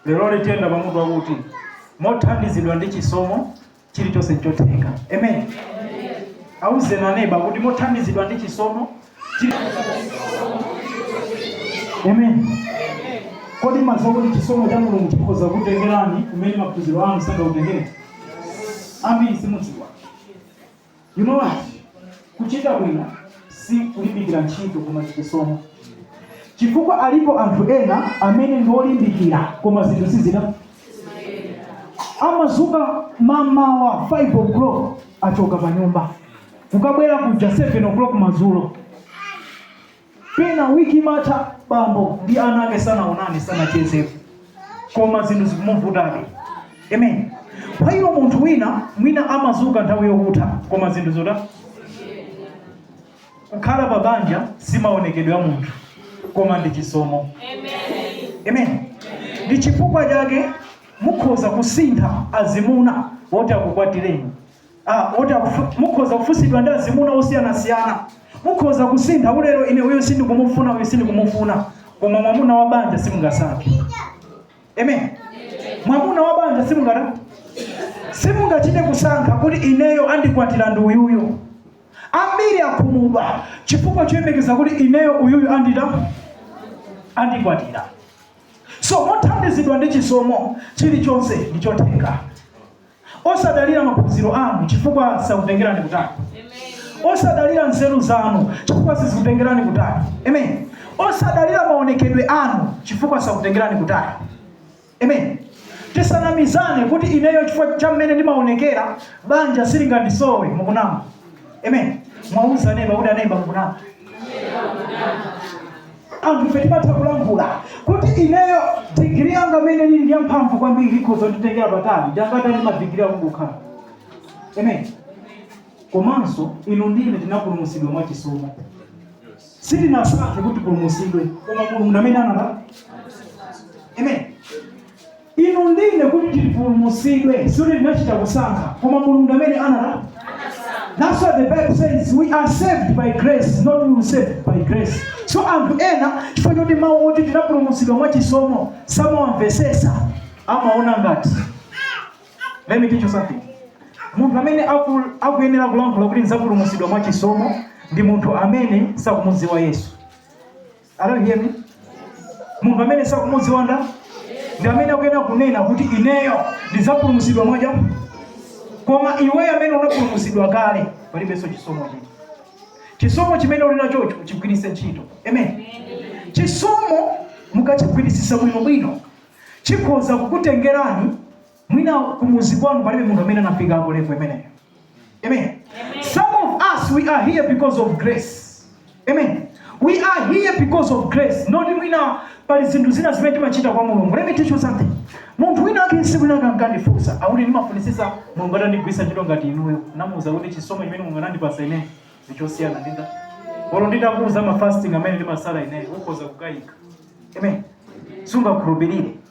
leroli tiyenda pamutu wakuti mothandizidwa ndi chisomo chilichonse nchotheka amen auzeni aneba kuti mothandizidwa ndi chisomo chili- amen kodi mumadziwa kuti chisomo cha mulungu chikhoza kutengerani kumene maphunziro anu sangakutengere ambiri simudziwa You know what? Kuchita bwino si kulimbikira ntchito koma chisomo. Chifukwa alipo anthu ena amene ndi olimbikira koma zinthu sizita amazuka mamawa 5 o'clock achoka pa nyumba kukabwera kuja 7 o'clock madzulo pena wiki imatha bambo ndi ana ake sanaonane sanachezepo koma zinthu zikumuvutabe amen kwa iwo munthu wina mwina amazuka nthawi yokutha koma zinthu zota kukhala pa banja si maonekedwe a munthu koma ndi chisomo amen ndi chifukwa chake mukhoza kusintha azimuna woti akukwatireni Ah, oti akufu- mukhoza kufunsidwa ndi azimuna osiyanasiyana mukhoza kusintha kuti lero ine uyu sindikumufuna uyu sindikumufuna koma mwamuna wa banja simungasankhe amen mwamuna wa banja simungata simungachite kusankha kuti ineyo andikwatira ndi uyuyo ambiri akhumudwa chifukwa choyembekeza kuti ineyo uyuyu andita andikwatira so mothandizidwa ndi chisomo chilichonse ndichotheka Osadalira maphunziro anu chifukwa sakutengerani kutali. Osadalira nzeru zanu chifukwa sizikutengerani kutali. Amen. Osadalira maonekedwe anu chifukwa sakutengerani kutali. Amen. Tisanamizane kuti ineyo chifukwa cha mmene ndimaonekera banja silingandisowe mukunama. Amen. Muwauze aneba kuti aneba mukunama. anthu ife timatha kulankhula kuti ineyo digiri yanga amene ili ndi yamphamvu kwambiri ikhoza kunditengera patali ndi angati a madigiri akungokhala amen komanso inu ndine tinapulumutsidwa mwa chisomo sitinasankhe kuti tipulumutsidwe koma mulungu amene anatipulumutsa amen Inu ndi ine kuti tipulumutsidwe sikuti tinachita kusankha, koma Mulungu ndi amene ana That's what the Bible says. We are saved by grace, not we are saved by grace. So anthu ena chifukwa choti mawu oti tinapulumutsidwa mwa chisomo samawamvetsetsa amaona ngati let me teach you something munthu amene aku- akuyenera kulankhula kuti nzapulumutsidwa mwa chisomo ndi munthu amene sakumudziwa yesu Are you hearing me? Munthu amene sakumudziwa nda ndi amene akuyenera kunena kuti ineyo ndidzapulumutsidwa mwa cha koma iweyo amene unapulumutsidwa kale palibenso chisomo chiti chisomo chimene uli nachocho chigwiritse ntchito amen chisomo mukachigwiritsisa bwinobwino chikhoza kukutengerani Mwina kumuzi kwanu palibe munthu amene anafikapo level imeneyo. Amen. Some of us we are here because of grace. Amen. We are here because of grace. Not mwina pali zinthu zina zimene timachita kwa Mulungu. Let me teach you something. Munthu wina ake tsiku linake ankandifunsa, akuti ndimafunitsitsa Mulungu atandigwiritsa ntchito ngati inuyo. Namuuza kuti chisomo chimene Mulungu anandipatsa ine ndi chosiyana ndi nda. Olo nditakuuza ma fasting amene ndimasala ine, ukhoza kukayika. Amen. Sungakhulupirire.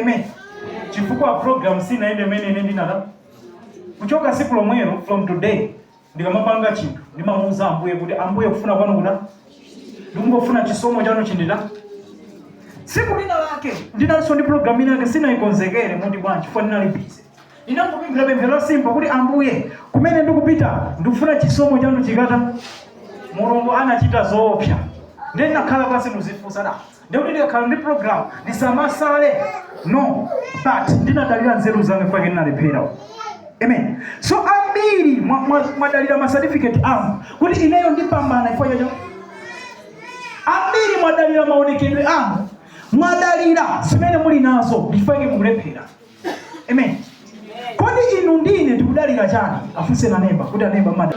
amen chifukwa program sinayende mmene ine ndinata kuchoka siku lomwelo from today ndikamapanga chinthu ndimamuuza ambuye kuti ambuye kufuna kwanu kuta ndikungofuna chisomo chanu chindita tsiku lina lake ndinalinso ndi program ina yake sinayikonzekere moti bwanji chifukwa ndinali busy ndinangopemphera pemphero la simple kuti ambuye kumene ndikupita ndikufuna chisomo chanu chikata mulungu anachita zoopsa ndiye ndinakhala pansi kuzifunsa nda ndekuti ndikakhala ndi program ndisamasale no but ndinadalira nzeru zanga chifukwa chake ndinalephera amen so ambiri mwa- mwa- mwadalira ma certificate anu kuti ineyo ndipambana chifukwa chacho ambiri mwadalira maonekedwe anu mwadalira zimene muli nazo chifukwa chake mukulephera amen kodi inu ndine tikudalira chani afunseni a neba kuti aneba mwada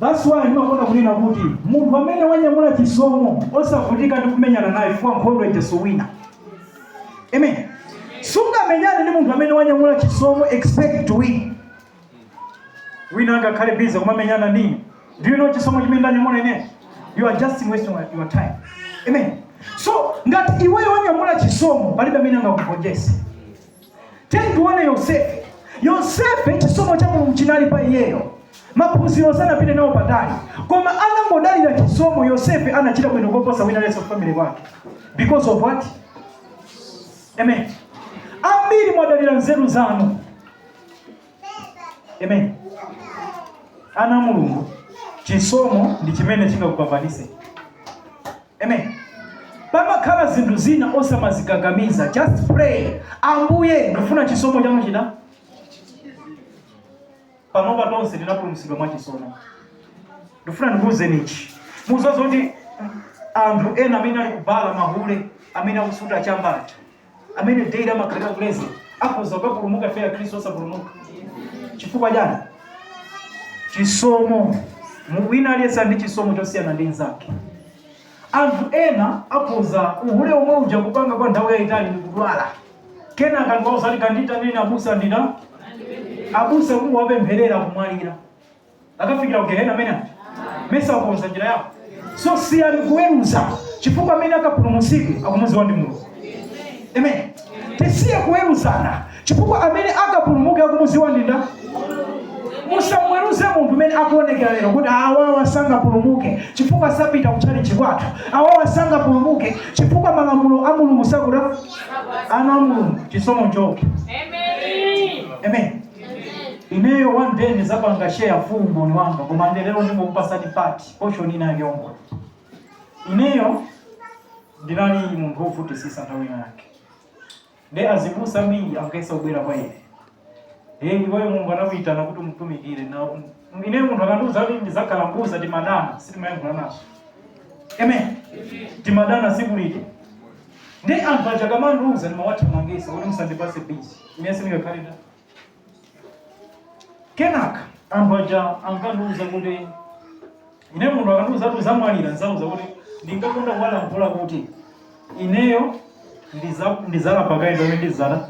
That's why ndimakonda kunena kuti munthu amene wanyamula chisomo osavutika ndi kumenyana naye chifukwa nkhondo ija suwina. Amen. Sungamenyane ndi munthu amene wanyamula chisomo expect to win. Wina angakhale busy kumamenyana ndi ine. Do you know chisomo chimene ndanyamula ine? You are just wasting your time. Amen. So ngati iweyo wanyamula chisomo palibe amene angakugonjese. tiyeni tione yosefe yosefe chisomo cha mulungu chinali pa iyeyo maphunziro sanapite nawo patali koma anangodalira chisomo yosefe anachita bwino koposa wina aliyense m'family mwake because of what amen ambiri mwadalira nzeru zanu Amen. Ana a Mulungu, chisomo ndi chimene chingakupambanise. Amen. Pamakhala zinthu zina osamazikakamiza. Just pray. Ambuye, ndifuna chisomo chanu chita. Panopa tonse tinapulumutsidwa mwa chisomo. Ndifuna ndikuuzeni ichi. Muzaona kuti anthu ena amene ali kubala mahule amene akusuta chamba ali amene daily amakhalira kulezera akhoza kukapulumuka ife akhristu osapulumuka chifukwa chani chisomo Mu- wina aliyense ndi chisomo chosiyana ndi mnzake anthu ena akhoza uhule omwe uja kupanga kwa nthawi yayitali ndi kudwala kenaka nkuwauza ati kandiitanireni abusa ndina abusa kuwapempherera kumwalira akafikira ku gehena amene aja mesa akonza njira yawo so siyani kuweruza chifukwa amene akapulumutsidwe akumudziwa ndi mulungu amen tisiye kuweruzana chifukwa amene akapulumuke akumudziwa ndi ndani musamweruze munthu mmene akuonekera lero kuti awawa sangapulumuke chifukwa sapita kutchalitchi kwathu awawa sangapulumuke chifukwa malamulo a mulungu sakuti ana a mulungu chisomo chokha Amen. amen ineyo one day ndizapanga share full umboni wanga koma nde lero ndingokupasani part portion inayake yang'ono ineyo ndinali munthu wovutisisa nthawi yake nde azibusa ambiri ankayesa kubwera kwa ine hey iweyo mulungu anakuyitana kuti umtumikire na ineyo munthu akandiuza kuti ndizakhala mbusa timadana sitimayankhulanaso amen timadana siku liti Ndi anthu aja akamandiuza ndimawathamangisa kuti musandipase busy. Ine sindingakhale ndani. Kenaka anthu aja ankandiuza kuti ine munthu akandiuza kuti uzamwalira nzauza kuti ndingakonda kuwalankhula kuti ineyo ndiza- ndizalapa kaye pamene ndizana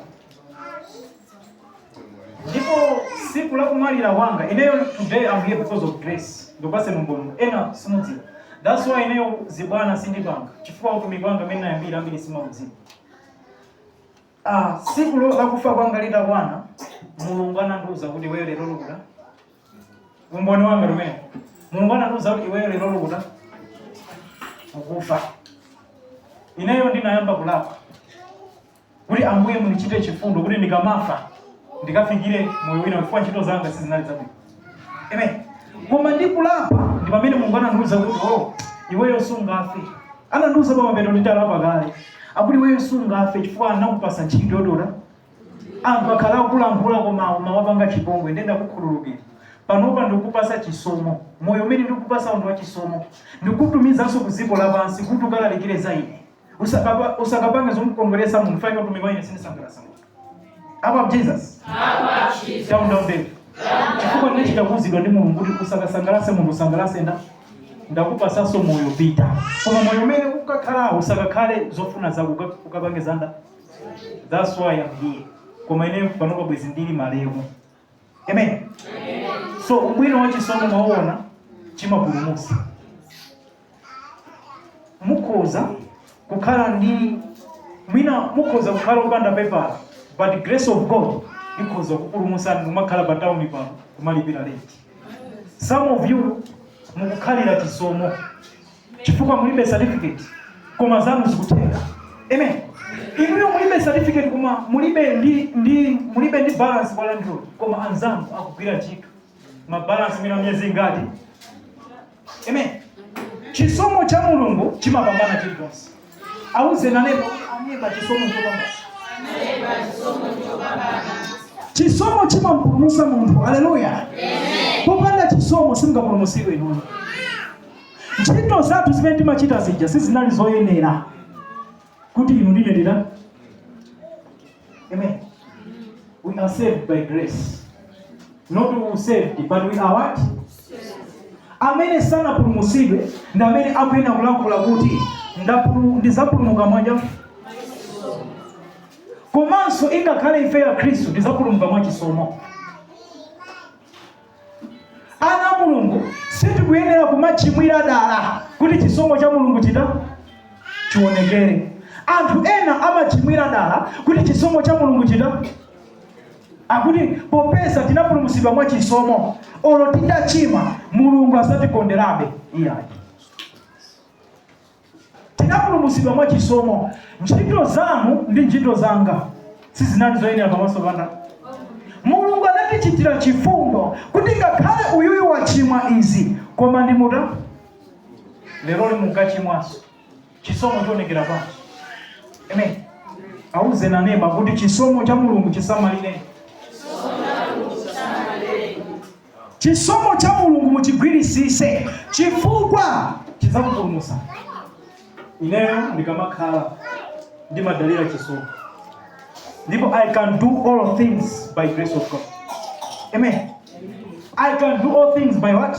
ndipo siku la kumwalira kwanga ineyo today I'm here because of grace ndipase umboni ena simudziwa that's why ineyo zibwana sindipanga chifukwa utumiki wanga amene nayambira ambiri simaudziwa ah, siku lo- la kufa kwanga litakwana mulungu anandiuza kuti iweyo lero ukuta umboni wanga umene mulungu anandiuza kuti iweyo lero ukuta ukufa ineyo ndinayamba kulapa kuti Ambuye mundichite chifundo kuti ndikamafa ndikafikire moyo wina chifukwa ntchito zanga sizinali zabwino. Amen. Koma ndikulapa ndi pamene Mulungu anandiuza kuti oh, iweyo sungafe. Anandiuza pa mapeto nditalapa kale. Akuti iweyo sungafe chifukwa nakupasa ntchito yotola. Anthu akhala akulankhula koma umawapanga chipongwe nde ndakukhululukira. Panopa ndikupasa chisomo. Moyo umene ndikupasawu ndi wa chisomo. Ndikutumizanso ku dziko lapansi kuti ukalalikire za ine. Usakapa- usakapange zomukondweretsa munthu faina utumiki wa ine sinisangalasa munthu apa jesus down down baby chifukwa ndinachita kuuzidwa ndi mulungu kuti usakasangalase munthu usangalase nda ndakupasaso moyo pita koma moyo umene ukakhala usakakhale zofuna zako uka- ukapange za nda that's why I'm here koma ine panopa bwezi ndili malemu amen so ubwino wa chisomo mwauona chimapulumutsa mukhoza kukhala ndi mwina mukhoza kukhala opanda pepala but the grace of god ikhoza kukupulumutsani mumakhala pa tawuni pano kumalipira lenti some of you mukukhalira chisomo chifukwa mulibe certificate koma zanu zikutheka amen inuyo mulibe certificate koma mulibe ndi ndi mulibe ndi balance kwa landlord koma anzanu akugwira ntchito ma balance mwina miyezi ingati amen chisomo cha mulungu chimapambana chilichonse auze a neba aneba chisomo chopambana chisomo chimampulumusa munthu aleluya popanda chisomo simungapulumusidwe inuyo ntchito zathu zimene timachita zija sizinali zoyenera kuti inu ndine ndina amen we are saved by grace not we were saved but we are what amene sanapulumutsidwe ndi amene akuyenera kulankhula kuti ndapulu- ndizapulumuka mwanji komanso ingakhale ife akhristu ndizapulumuka mwachisomo ana a mulungu sitikuyenera kumachimwira dala kuti chisomo cha mulungu chitani chionekere anthu ena amachimwira dala kuti chisomo cha mulungu chitani akuti popeza tinapulumutsidwa mwa chisomo olo titachimwa mulungu azatikonderabe iyayi Tinapulumutsidwa mwa chisomo. Ntchito zanu ndi ntchito zanga sizinali zoyenera pamaso pa Mulungu. Anatichitira chifundo kuti ngakhale uyuyu wachimwa izi, koma ndimutola lero lino mukachimwanso chisomo chionekera pansi. Amen. Auze a neba kuti chisomo cha Mulungu chisamalireni. Chisomo cha mulungu muchigwirisise chifukwa chizakupulumusani ineyo ndikamakhala ndimadalira chisomo ndipo i can do all things by grace of god amen i can do all things by what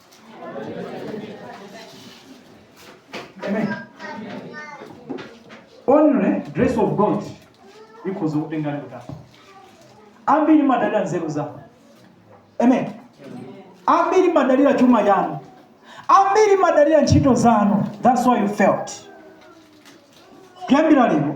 Amen. Only grace of God ikhoza kutengani kutali. Ambiri mumadalira nzeru zanu. Amen. Ambiri mumadalira chuma chanu. Ambiri mumadalira ntchito zanu. That's why you fail. Kuyambira lero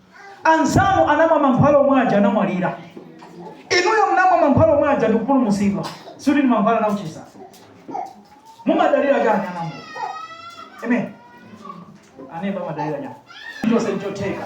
Anzanu anamwa mankhwala omwe aja anamwalira, inuyo munamwa mankhwala omwe aja ndikupulumusidwa, sikuti ndi mankhwala anakuchizani. Mumadalira chani anambo? Amen. Aneba mumadalira chani? Chonse nchotheka.